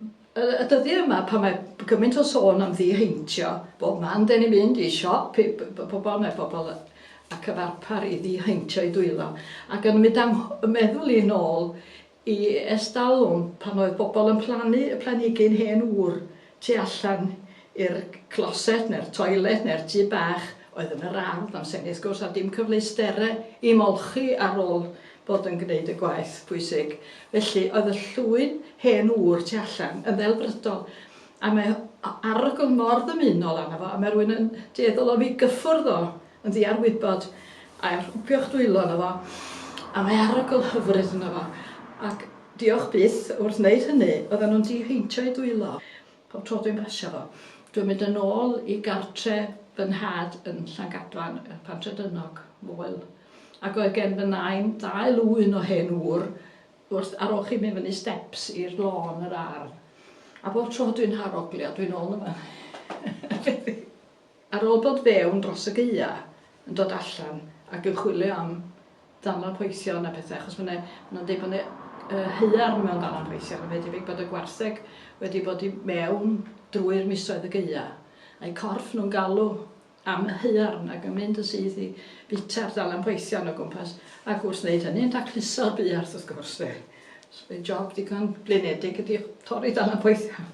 Y dyddiau yma pan mae gymaint o sôn am ddiheintio, bob man 'den ni'n mynd i siop i bobl, mae pobl a cyfarpar i ddiheintio i dwylo, ac yn mynd â'm meddwl i'n ôl i ers dalwm pan oedd bobl yn plannu y planhigyn hen ŵr tu allan i'r closet neu'r toilet neu'r tŷ bach oedd yn yr ardd am senedd sgwrs a dim cyfleusterau i molchi ar ôl bod yn gwneud y gwaith pwysig. Felly, oedd y llwyn hen ŵr tu allan yn ddelfrydol, a mae arogl mor ddymunol arno fo, a mae rhywun yn dueddol o fi gyffwrdd o yn ddiarwybod, a rhwpio'ch dwylo arno fo, a mae arogl hyfryd yno fo. Ac diolch byth, wrth wneud hynny, oedden nhw'n diheintio'u dwylo. Pob tro dwi'n basio fo. Dwi'n mynd yn ôl i gartre fy nhad yn Llangadfan, y Pantredynog, Moel, ac oedd gen fy nain ddau lwyn o hen ŵr wrth ar ôl chi mynd fyny steps i'r lôn yr ardd. A bob tro dwi'n haroglio, dwi'n ôl yma. Ar ôl dod fewn dros y gaea, yn dod allan ac yn chwilio am ddalan poethion a pethau, achos mae 'na, maen nhw'n deud bod 'na yy haearn mewn ddalan poethion, a mae debyg bod y gwartheg wedi bod i mewn drwy'r misoedd y gaea, a'u corff nhw'n galw am y haearn ac yn mynd yn syth i fwyta'r ddalan poethion o gwmpas, ac wrth wneud hynny'n dacluso'r buarth wrth gwrs de. So mae'n job digon blinedig ydi torri ddalan poethion.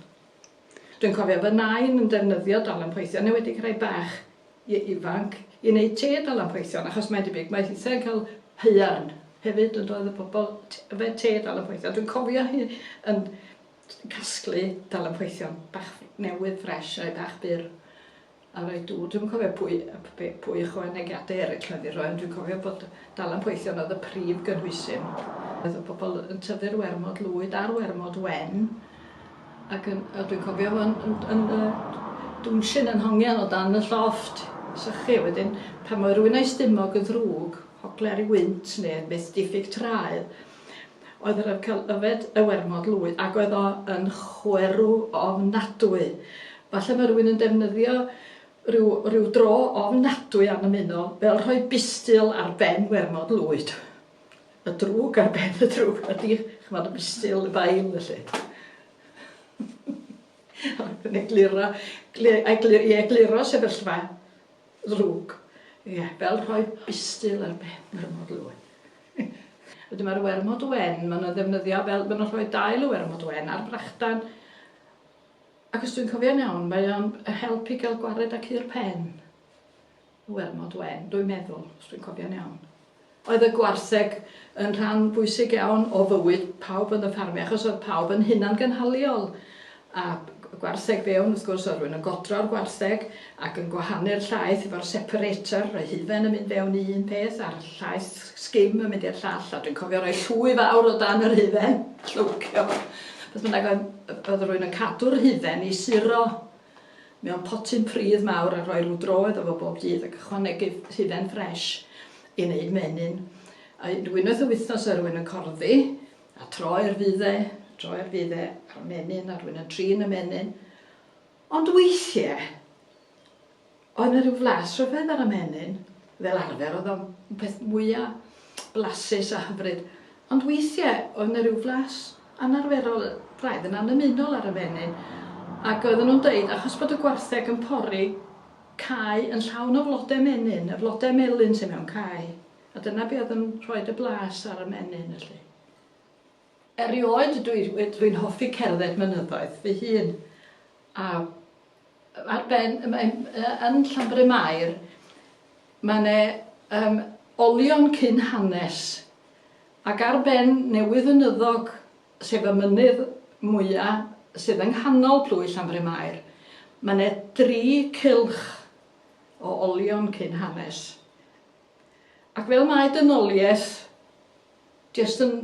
Dwi'n cofio fy nain yn defnyddio dalan poethion, yn enwedig rhai bach i ifanc, i wneud te dalan poethion, achos mae'n debyg mae hithau'n cael haearn hefyd yn doedd y pobl yfed te dalan poethion. Dwi'n cofio hi yn casglu dalan poethion bach newydd ffres, rhai bach byr. A reit, dw, dwi'm yn cofio pwy, p- pwy ychwanegiadau eraill oedd i roi, ond dwi'n cofio bod Dalan Poethion oedd y prif gynhwysyn. Oedd y pobl yn tyfu'r wermod lwyd a'r wermod wen, ac yn, a dwi'n cofio fo yn, yn, yn, yn dwnsyn yn hongian o dan y llofft, sychu wedyn, pan oedd rhywun a'i stumog yn ddrwg, hogler i wynt, neu beth diffyg traed, oedd yr ymcel yfed y wermod lwyd ac oedd o yn chwerw ofnadwy. Falle mae rhywun yn defnyddio rhyw, rhyw dro ofnadwy am ymuno fel rhoi bistil ar ben wermod lwyd. Y drwg ar ben y drwg ydy, chymod, y bistil, y bail, felly. Ac yn egluro, i egluro sefyllfa ddrwg. Ie, fel rhoi bistil ar ben wermod lwyd. Wedyn ma'r wermod wen ma' nw'n ddefnyddio fel ma' nw'n rhoi dail y wermod wen ar frachdan ac os dwi'n cofio'n iawn mae o'n yy help i ga'l gwared â cur pen. Y wermod wen dwi'n meddwl os dwi'n cofio'n iawn. Oedd y gwartheg yn rhan bwysig iawn o fywyd pawb yn y ffarmio achos oedd pawb yn hunangynhaliol a gwartheg fewn wrth gwrs oedd rhywun yn godro'r gwartheg ac yn gwahanu'r llaeth efo'r separator, rhoi hufen yn mynd fewn i un peth a'r llaeth sgim yn mynd i'r llall a dwi'n cofio rhoi llwy fawr o dan yr hufen, llywcio. Beth bynnag oedd, oedd rhywun yn cadw'r hufen i suro mewn potyn pridd mawr a rhoi rhyw droedd o fo bob dydd ac ychwanegu hufen ffres i wneud menyn. A unwaith y wythnos oedd rhywun yn corddi A troi'r fudde, troi'r fudde ar y menyn, a rwy'n yn trin y menyn. Ond weithiau, oedd yna rhyw flas rhyfedd ar y menyn, fel arfer, oedd o'n peth mwyaf blasus a hyfryd. Ond weithiau, oedd yna rhyw flas anarferol, braidd yn annymunol ar y menyn, ac oedden nhw'n dweud, achos bod y gwartheg yn pori cae yn llawn o flodau menyn, y flodau melyn sydd mewn cae, A dyna be oedd yn rhoid y blas ar y menyn felly. Erioed dwi, dwi'n hoffi cerdded mynyddoedd fy hun. A ar ben, yn Llanbryn Mair, mae yna um, olion cyn hanes. Ac ar ben newydd ynyddog, sef y mynydd mwyaf sydd yng nghanol plwy Llanbryn Mair, mae yna dri cylch o olion cyn hanes. Ac fel mae dynoliaeth jyst yn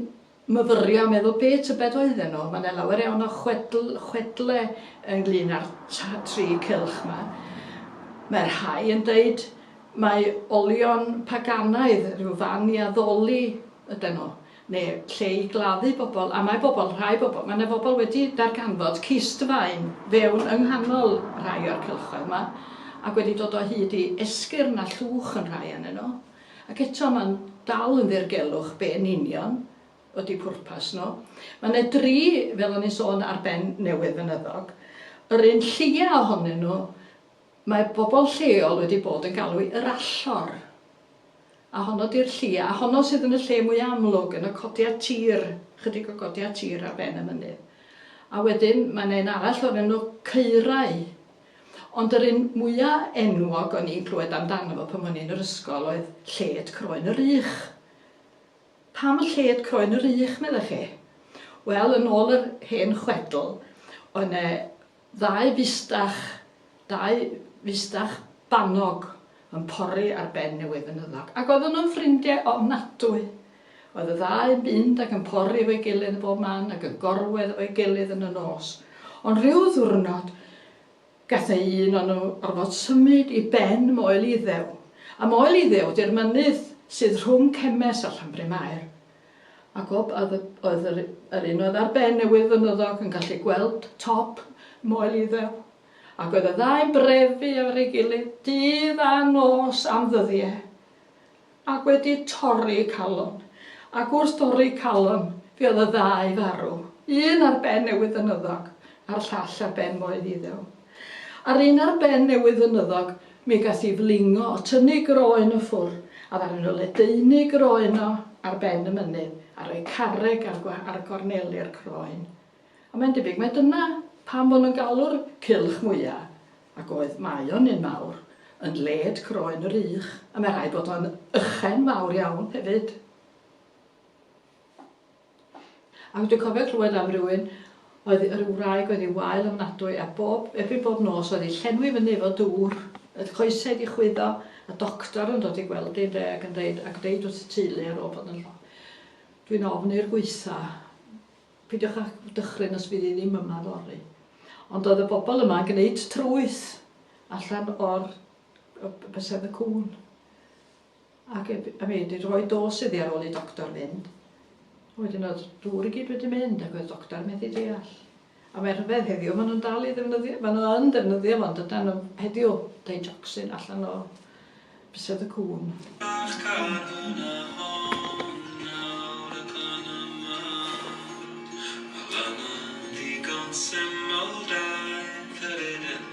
myfyrio a meddwl be tybed oedden nhw, mae 'na lawer iawn o chwedl, chwedle ynglyn â'r tri cylch 'ma. Mae rhai yn deud mai olion paganaidd, rhyw fan i addoli yden nhw. neu lle i gladdu bobl, a mae bobl, rhai bobl, mae 'na bobl wedi darganfod cistfaen fewn yng nghanol rhai o'r cylchoedd 'ma, ac wedi dod o hyd i esgyrn a llwch yn rhai o'nyn nhw, ac eto mae'n dal yn ddirgelwch be yn union ydi pwrpas nhw. Mae 'na dri, fel o'n i'n sôn, ar ben newydd fynyddog, yr un lleia ohonyn nhw Mae pobl lleol wedi bod yn galw i Yr Allor, a honno 'di'r lli, a honno sydd yn y lle mwya' amlwg, yn y codiad tir, chydig o godiad tir ar ben y mynydd. A wedyn mae 'na un arall o'r enw Caerau. Ond yr un mwya' enwog o'n i'n clywed amdano fo pan o'n i'n yr ysgol oedd Lled Croen yr Ych. Pam Lled Croen yr Ych, meddech chi? Wel, yn ôl yr hen chwedl, oedd 'ne Ddau fustach, dau fustach bannog yn pori ar ben y wefenyddoc, ac oedden nhw'n ffrindie ofnadwy. Oedd y ddau yn mynd ac yn pori efo'i gilydd yn bob man ac yn gorwedd efo'i gilydd yn y nos. Ond rhyw ddwrnod, gathe un o nhw orfod symud i ben Moel Iddew. A Moel Iddew 'di'r mynydd sydd rhwng Cemes a Llanbrynmair. A Gob a dd- oedd yr yr un oedd ar ben y wirfynyddog yn gallu gweld top Moel Iddew, ac oedd y ddau'n brefu ar ei gilydd dydd a nos am ddyddie, ac wedi torri calon, ac wrth dorri calon fe oedd y ddau farw, un ar ben y wirfynyddog, a'r llall ar ben Moel Iddew. Ar un ar ben newydd fynyddog mi gath i flingo o tynnu groen o ffwr a ddaru nhw ledaenu groen o ar ben y mynydd a rhoi carreg ar ar gorneli'r croen. A mae'n debyg mai dyna pam fo nhw'n galw'r cylch mwya ac oedd mae o'n un mawr yn led croen yr ych a mae rhaid bod o'n ychen fawr iawn hefyd. Ac dwi'n cofio clywed am rywun oedd yy ryw wraig oedd 'i wael ofnadwy a bob, erbyn bob nos oedd 'i llenwi fyny efo dŵr, oedd coesau 'di chwyddo, a doctor yn dod i gweld 'i ynde ac yn deud ac deud wrth y teulu ar ôl bod yn llon', dwi'n ofn i'r gwaetha', pidiwch â dychryn os fydd hi ddim yma fory. Ond oedd y bobl yma yn gneud trwyth allan o'r yy bysedd y cŵn. Ac y y mynd i roi dos iddi ar ôl i doctor fynd. Wedyn oedd dŵr i gyd wedi mynd ac oedd doctor methu deall. A mae rhyfedd heddiw, maen nhw'n dal i ddefnyddio, maen nhw yn defnyddio fo, ond ydan nhw heddiw, digoxin allan o bysedd y cŵn. Bach carwn a hon nawr y glan yma Mae lan yn ddigon syml daeth yr eden